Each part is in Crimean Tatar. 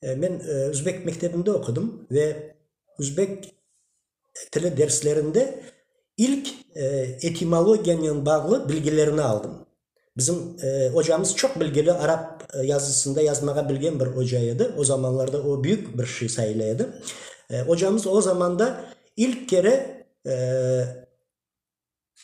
Men özbek mektebinde oqudım ve özbek tili derslerinde ilk etimologiyanen bağlı bilgilerni aldım. Bizim ocamız çoq bilgili arap yazısında yazmağa bilgen bir oca edi. O zamanlarda o büyük bir şey sayıla edi. Ocamız o zamanda ilk kere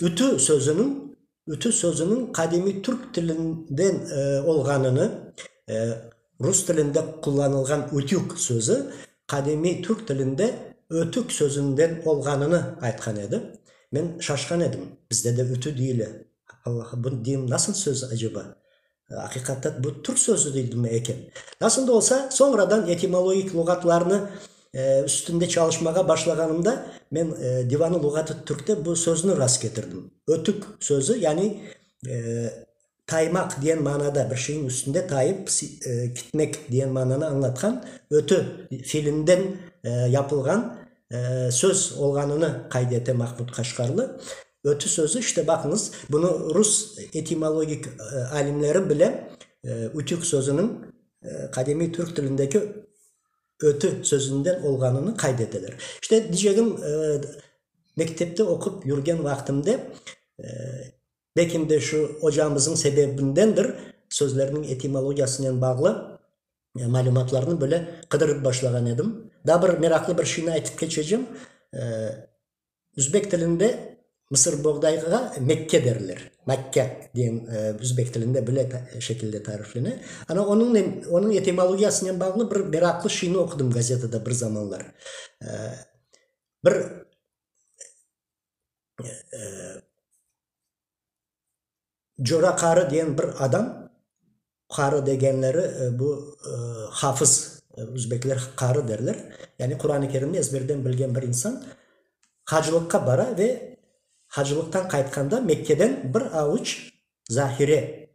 Ütü sözüniñ ütü sözüniñ qadimiy türk tilinden olğanını, rus tilinde qullanılğan ütük sözü qadimiy türk tilinde ötük sözünden olğanını aytqan edi. Men şaşqan edim, bizde de ütü deyile, Alla, bu deyim nasıl söz aceba? Aqiqaten bu türk sözü degilmey eken. Nasıl da olsa, soñradan etimologik luğatlarnı üstünde çalışmağa başlağanımda men Divanı luğatı türkte bu söznü rast ketirdim. Ötük sözü, yani taymaq deyen manada, bir şeyniñ üstünde tayıp gitmek deyen mananı añlatqan ötü filinden yapılğan söz olğanını qayd ete Mahmud Qaşqarlı. Ötü sözü, işte baqıñız, bunı rus etimologik alimleri bile ütük sözüniñ qadimiy türk tilindeki ötü sözünden olğanını qayd eteler. İşte, diycegim, mektepte oqup yürgen vaqtimde, belkim de şu ocamızıñ sebebindendir, sözlerniñ etimologiyasınen bağlı malümatlarnı böyle qıdırıp başlağan edim. Daa bir meraqlı bir şeyni aytıp keçecem. Üzbek tilinde Mısır boğdayğa Mekke derler. Makke degen üzbek tilinde bile şekilde tariflene. Ana onıñnen, onıñ etimologiyasınen bağlı bir meraqlı şeyni oqudım gazetada bir zamanlar. Bir Cora qarı diyen bir adam, qarı degenleri bu hafız, üzbekler qarı derler, yani Quran-ı Kerimni ezberden bilgen bir insan, hacılıqqa bara ve hacılıqtan qaytqanda Mekkeden bir avuç zahire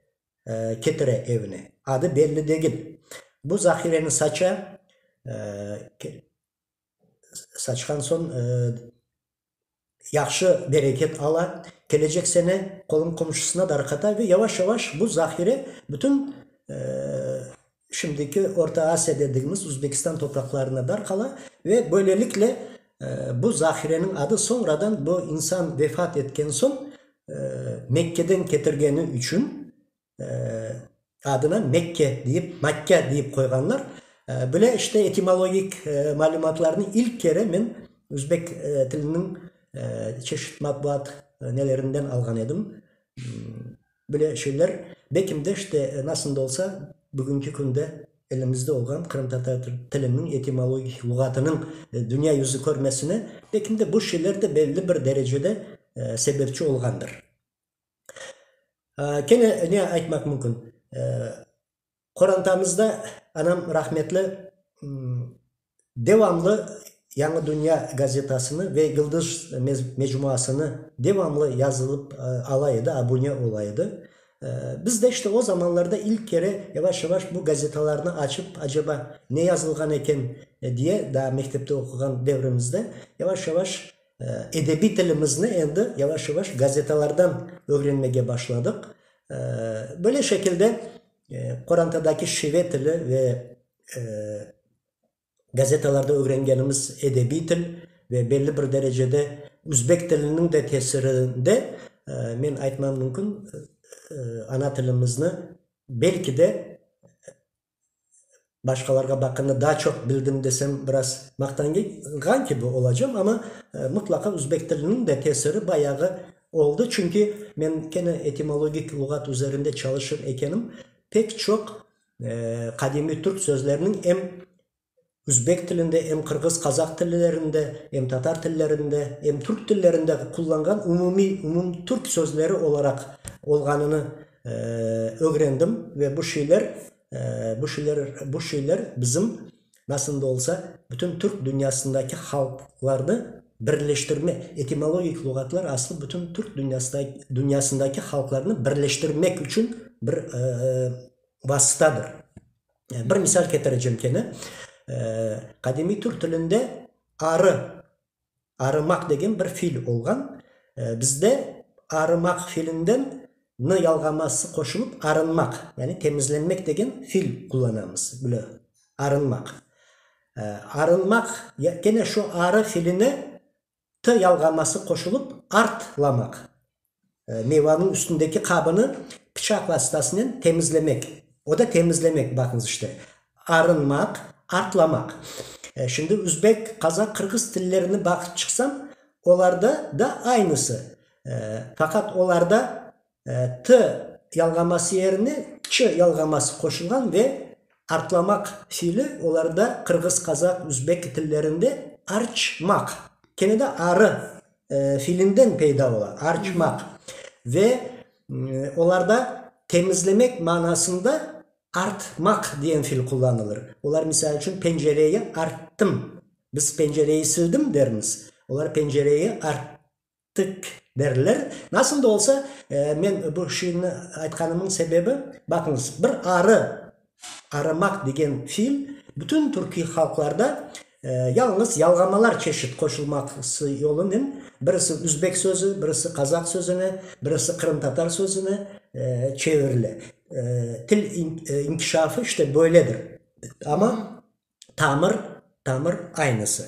ketire evine. Adı belli degil. Bu zahireni saça, saçqan soñ yahşı bereket ala, kelecek sene qolun qomşusına darqata ve yavaş-yavaş bu zahire bütün şimdiki Orta Asiya dedigimiz Uzbekistan topraqlarına darqala ve böylelikle bu zahireniñ adı soñradan bu insan vefat etken soñ Mekkeden ketirgeni içün Adına Mekke deyip, Makkâ deyip qoyğanlar. Böyle işte etimologik malümatlarnı ilk kere men üzbek tiliniñ çeşit matbuat nelerinden alğan edim. Böyle şeyler belkim de işte nasıl da olsa bugünki künde elimizde olğan qırımtatar tiliniñ etimologik luğatınıñ dünya yüzü körmesine belkim de bu şeyler de belli bir derecede sebepçi olğandır. Kene ne aytmaq mümkün, qorantamızda anam rahmetli devamlı Yañı dünya gazetasını ve Yıldız mecmuasını devamlı yazılıp ala edi, abune ola edi. Biz de işte o zamanlarda ilk kere yavaş-yavaş bu gazetalarnı açıp, acaba ne yazılğan eken diye, daa mektepte oquğan devrimizde, yavaş-yavaş Edebiy tilimizni endi yavaş-yavaş gazetalardan ögrenmege başladıq. Böyle şekilde qorantadaki şive tili ve gazetalarda ögrengenimiz edebiy til ve belli bir derecede üzbek tiliniñ de tesirinde, men aytmam mümkün, ana tilimizni belki de başqalarğa baqqanda daa çoq bildim desem, biraz maqtanğan kibi olacam, amma mıtlaqa üzbek tiliniñ de tesiri bayağı oldı, çünki men kene etimologik luğat üzerinde çalışır ekenim, pek çoq qadimiy türk sözleriniñ em Üzbek tilinde, em qırğız, qazaq tillerinde, em tatar tillerinde, em türk tillerinde qullanğan umumiy, umum türk sözleri olaraq olğanını ögrendim ve bu şeyler, bu şeyler, bu şeyler bizim nasıl da olsa bütün türk dünyasındaki halqlarnı birleştirmek, etimologik luğatlar aslı bütün türk dünyasında, dünyasındaki halqlarnı birleştirmek içün bir vasıtadır. Bir misal ketiricim kene, qadimiy türk tilinde arı, arımaq degen bir fiil olğan. Bizde arımaq fiilinden nı yalğaması qoşulıp arınmaq, yani temizlenmek degen fiil qullanamız, bile, arınmaq. Arınmaq, kene şu arı fiiline T yalğanması qoşulıp artlamaq. Meyvanıñ üstündeki qabını pıçaq vastasınen temizlemek. O da temizlemek, baqıñız işte. Arınmaq, artlamaq. Şimdi üzbek, qazaq, qırğız tillerini baqıp çıqsañ, olarda da aynısı. Faqat olarda t yalğaması yerine ç yalğaması qoşulğan ve artlamaq fiili olarda, qırğız, qazaq, üzbek tillerinde, arç maq, kene de arı fiilinden peyda ola, arçmaq, ve olarda temizlemek manasında art maq diyen fiil qullanılır. Olar, misal içün, pencereyi arttım, biz pencereyi sildim dermiz, olar pencereyi art ettik derler. Nasıl da olsa, men bu şiirni aytqanımnıñ sebebi, baqıñız, bir arı, arımaq degen fiil bütün türkiy halqlarda yalnız yalğamalar çeşit qoşulması yolunen, birisi üzbek sözü, birisi qazaq sözüne, birisi qırımtatar sözüne çevirile. Til inkişafı işte böyledir. Amma. tamır, tamır aynısı.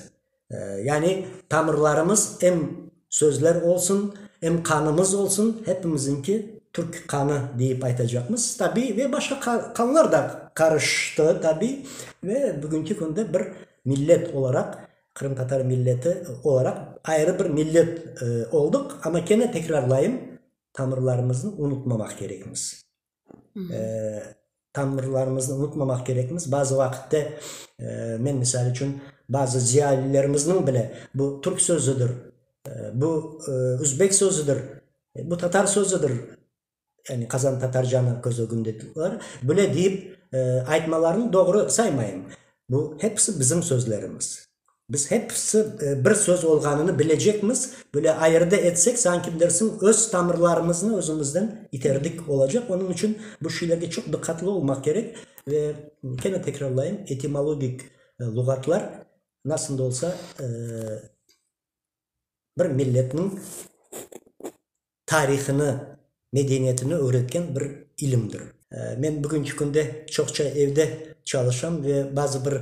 Yani tamırlarımız em sözler olsun, em qanımız olsun, hepimiziñki türk qanı deyip aytacaqmız. Tabiy, ve başqa qa, qanlar da qarıştı tabiy. Ve bugünki künde bir millet olaraq, qırımtatar milleti olaraq ayrı bir millet olduq. Amma kene tekrarlayım, tamırlarımıznı unutmamaq kerekmiz. tanrılarımıznı unutmamaq kerekmiz. Bazı vaqitte, men misal içün, bazı ziyalilerimizniñ bile bu türk sözüdir, bu özbek sözüdir, bu tatar sözüdir, yani Qazan Tatarjanı köz ögünde tutulır, böyle deyip aytmalarını doğru saymayım. Bu hepsi bizim sözlerimiz. Biz hepsi bir söz olğanını bilecekmiz, böyle ayırdı etsek, sanki bilirsiñ, öz tamırlarımıznı özümizden iterdik olacaq. Onıñ içün bu şeylerge çoq diqqatlı olmaq kerek. Ve kene tekrarlayım, etimologik luğatlar nasıl da olsa bir milletniñ tarihını, medeniyetini öğretken bir ilimdir. Men bugünki künde çoqça evde çalışam ve bazı bir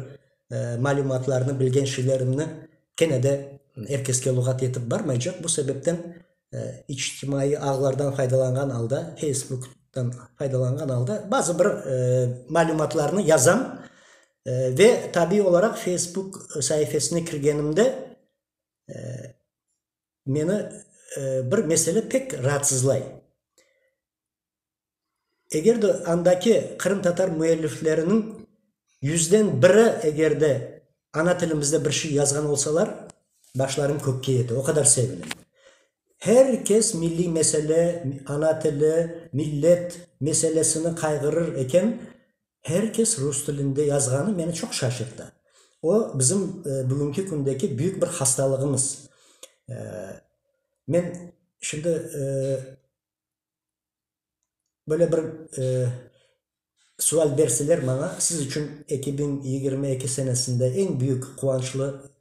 malümatlarnı, bilgen şeylerimni kene de er keske luğat yetip barmaycaq. Bu sebepten içtimaiy ağlardan faydalanğan alda, Facebook'tan faydalanğan alda bazı bir malümatlarnı yazam ve tabiiy olaraq Facebook saifesine kirgenimde Meni bir mesele pek raatsızlay. Eger de andaki qırımtatar müellifleriniñ yüzden biri eger de ana tilimizde bir şey yazğan olsalar, başlarım kökke yete, o qadar sevinim. Her kes milliy mesele, ana tili, millet meselesini qayğırır eken, Her kes rus tilinde yazğanı meni çoq şaşırta. O, bizim bugünki kündeki büyük bir hastalığımız. Men şimdi böyle bir sual berseler maña, siz içün eki biñ yigirmi eki senesinde eñ büyük quvançlı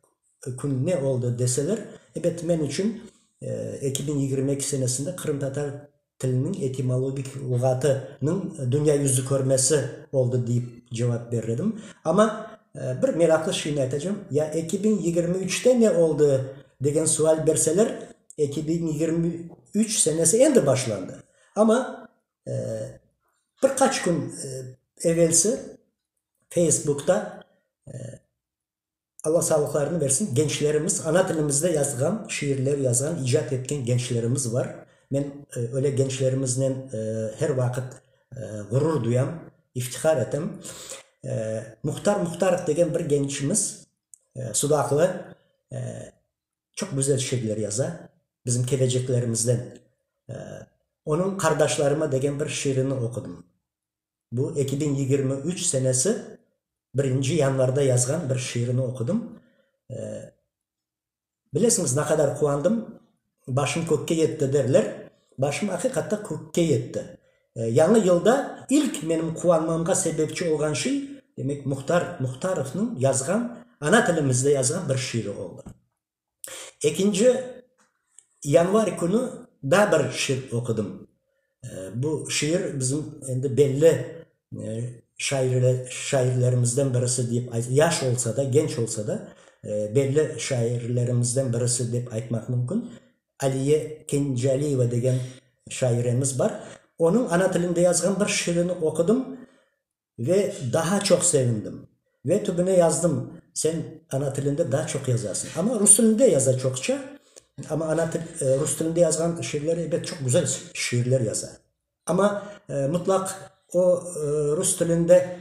Kün ne oldı deseler, ebet, men içün eki biñ yigirmi eki senesinde qırımtatar tiliniñ etimologik luğatınıñ dünya yüzü körmesi oldı deyip cevap berir edim. Amma bir meraqlı şeyni aytacağım, ya eki biñ yigirmi üçte ne oldı degen sual berseler, eki biñ yigirmi üç senesi endi başlandı. Amma bir qaç kün evelsi Feysbukta Alla sağlıqlarını bersin, gençlerimiz, ana tilimizde yazğan şiirler yazğan, icat etken gençlerimiz bar. Men öyle gençlerimiznen her vaqıt ğurur duyam, iftihar etem. Muhtar Muhtarov degen bir gençimiz, sudaqlı, çoq güzel şiirler yaza, bizim keleceklerimizden. Onıñ Qardaşlarıma degen bir şiirini oqudım. Bu eki biñ yigirmi üç senesi birinci yanvarda yazğan bir şiirini oqudım. Bilesiñiz, ne qadar quvandım, başım kökke yetti derler, başım aqiqatta kökke yetti. Yañı yılda ilk menim quvanmağımğa sebepçi olğan şey, demek, Muhtar Muhtarovnıñ yazğan, ana tilimizde yazğan bir şiiri oldı. Ekinci yanvar künü daa bir şiir oqudım. Bu şiir bizim endi belli şairlerimizden birisi dep, yaş olsa da, genç olsa da, belli şairlerimizden birisi dep aytmaq mümkün, Aliye Kencaliyeva degen şairemiz bar. Onıñ ana tilinde yazğan bir şiirini oqudım. Ve daha çoq sevindim. Ve tübüne yazdım, sen ana tilinde daa çoq yazasıñ. Amma rus tilinde yaza çoqça. Amma ana til, rus tilinde yazğan şiirleri, ebet, çoq güzel şiirler yaza. Amma mutlaq o, rus tilinde,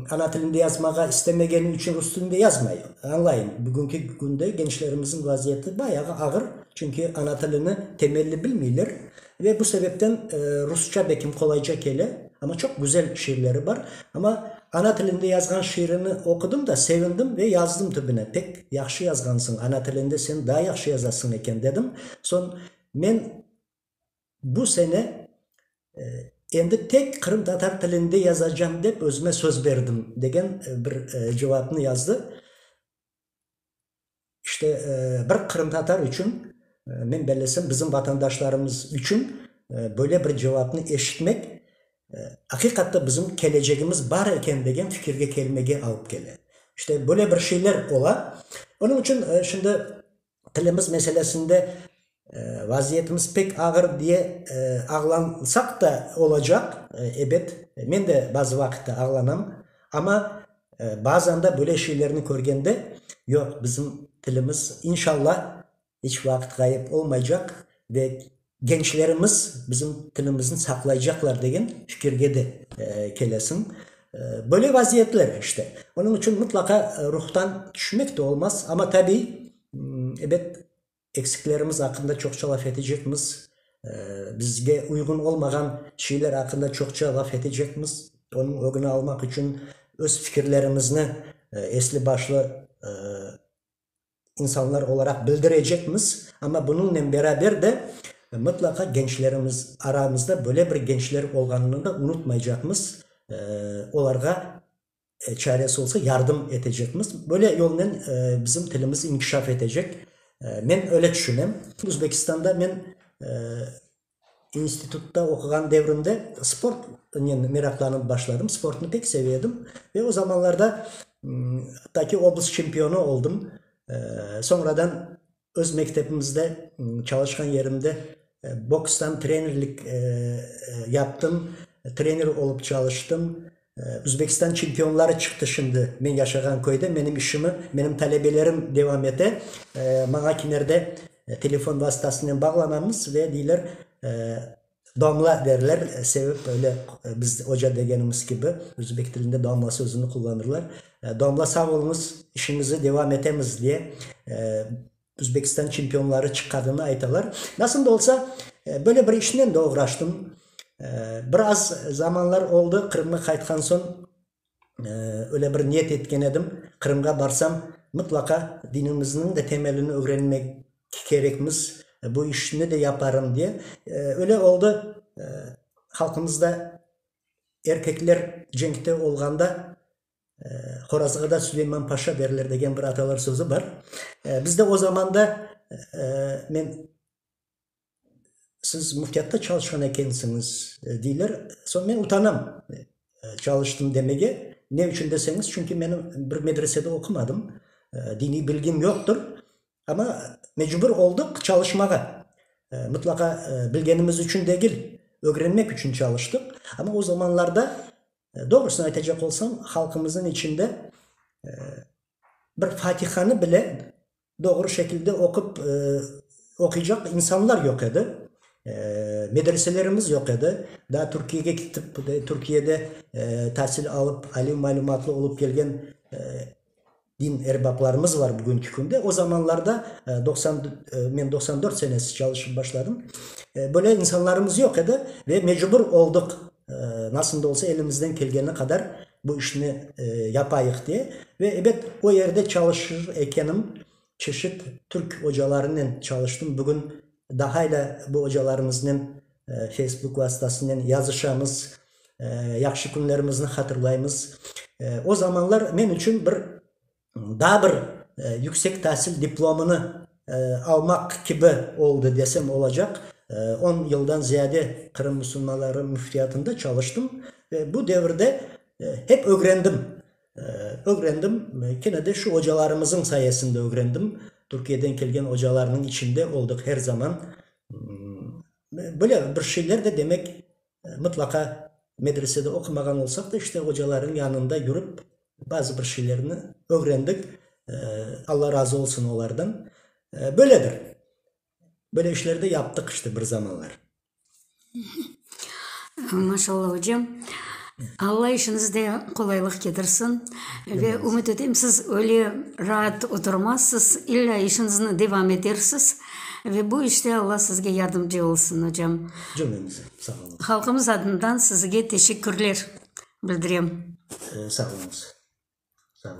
ana tilinde yazmağa istemegeni içün rus tilinde yazmay. Añlayım, bugünki künde gençlerimizniñ vaziyeti bayağı ağır. Çünki ana tilini temelli bilmeyler. Ve bu sebepten rusça bekim qolayca kele. Amma çoq güzel şiirleri bar. Amma ana tilinde yazğan şiirini oqudım da, sevindim ve yazdım tübüne, pek yahşı yazğansıñ, ana tilinde sen daa yahşı yazasıñ eken, dedim. Soñ men bu sene endi tek qırımtatar tilinde yazacağım dep özüme söz berdim, degen bir cevapnı yazdı. İşte, bir qırımtatar içün, men bellesem, bizim vatandaşlarımız içün böyle bir cevapnı eşitmek, aqiqatta bizim kelecegimiz bar eken degen fikirge kelmege alıp kele. İşte, böyle bir şeyler ola. Onıñ içün şimdi tilimiz meselesinde Vaziyetimiz pek ağır diye ağlansaq da olacaq, ebet, men de bazı vaqıtta ağlanam, amma bazan da böyle şeylerni körgende, yoq, bizim tilimiz, inşalla, iç vaqıt ğayıp olmaycaq ve gençlerimiz bizim tilimizni saqlaycaqlar degen fikirge de kelesiñ. Böyle vaziyetler işte. Onıñ içün mıtlaqa ruhtan tüşmek de olmaz, amma tabiy, ebet, Eksiklerimiz aqqında çoqça laf etecekmiz, bizge uyğun olmağan şeyler aqqında çoqça laf etecekmiz. Onıñ ögüni almaq içün öz fikirlerimizni esli başlı insanlar olaraq bildirecekmiz. Amma bunıñnen beraber de mıtlaqa gençlerimiz, aramızda böyle bir gençler olğanını da unutmaycaqmız, olarğa Çaresi olsa yardım etecekmiz. Böyle yolnen bizim tilimiz inkişaf etecek. Men öyle tüşünem. Özbekistanda men institutta oquğan devrimde sportnen meraqlanıp başladım. Sportnı pek seve edim. Ve o zamanlarda, takiy oblast çempionu oldım. Soñradan Öz mektebimizde, çalışqan yerimde bokstan trenerlik yaptım, trener olıp çalıştım. Özbekistan çempionları çıqtı şimdi men yaşağan köyde. Menim işimi menim talebelerim devam ete. Maña kimerde telefon vastasınen bağlanamız ve deyler, Domla derler, sebep böyle biz oca degenimiz kibi özbek tilinde domla sözüni qullanırlar. Domla sağ oluñız, işiñizi devam etemiz diye Özbekistan çempionları çıqqadını aytalar. Nasıl da olsa, böyle bir işnen de oğraştım. Biraz zamanlar oldı, Qırımğa qaytqan soñ öyle bir niyet etken edim, Qırımğa barsam, mıtlaqa dinimizniñ de temelini ögrenmek kerekmiz, bu işni de yaparım diye. Öyle oldı, halqımızda erkekler cenkte olğanda Horazğada Süleyman Paşa derler degen bir atalar sözü bar. Bizde o zamanda men Siz müftiyatta çalışqan ekensiñiz, deyler. Soñ men utanam çalıştım demege. Ne içün deseñiz, çünki men bir medresede oqumadım, diniy bilgim yoqtır. Amma mecbur oldıq çalışmağa. Mıtlaqa bilgenimiz içün degil, ögrenmek içün çalıştıq. Amma o zamanlarda, doğrusını aytacaq olsam, halqımıznıñ içinde bir fatihanı bile Doğru şekilde oqup, oquycaq insanlar yoq edi. Medreselerimiz yoq edi. Daa Türkiyege ketip, Türkiyede tasil alıp, aliy malümatlı olıp kelgen din erbaplarımız var bugünki künde. O zamanlarda doqsan, men doqsan dört senesi çalışıp başladım. Böyle insanlarımız yoq edi ve mecbur olduq, nasıl da olsa elimizden kelgeni qadar Bu işni yapayıq de. Ve ebet, o yerde çalışır ekenim, çeşit türk ocalarınen çalıştım. Bugün daha ile bu ocalarımıznen Facebook vastasınen yazışamız, yahşı künlerimizni hatırlaymız. O zamanlar men içün bir daa bir yüksek tasil diplomını almaq kibi oldı desem olacaq. On yıldan ziyade Qırım musulmanları müftiyatında çalıştım ve bu devirde hep ögrendim. Ögrendim, kene de şu ocalarımızıñ sayesinde ögrendim. Türkiyeden kelgen ocalarnıñ içinde oldıq her zaman. Böyle bir şeyler de demek Mıtlaqa medresede oqumağan olsaq da, işte, ocalarnıñ yanında yürip, bazı bir şeylerni ögrendik. Alla razı olsun olardan. Böyledir. Böyle işler de yaptıq, işte, bir zamanlar. Maşallah, ocam. Alla işiñizde qolaylıq ketirsin. Ve ümüt etem, siz öyle raat oturmazsız, illâ işiñizni devam etersiz. Ve bu işte Alla sizge yardımcı olsun, ocam. Cümlemize. Sağ oluñız. Halqımız adından sizge teşekkürler bildirem. Sağ oluñız. Sağ oluñız.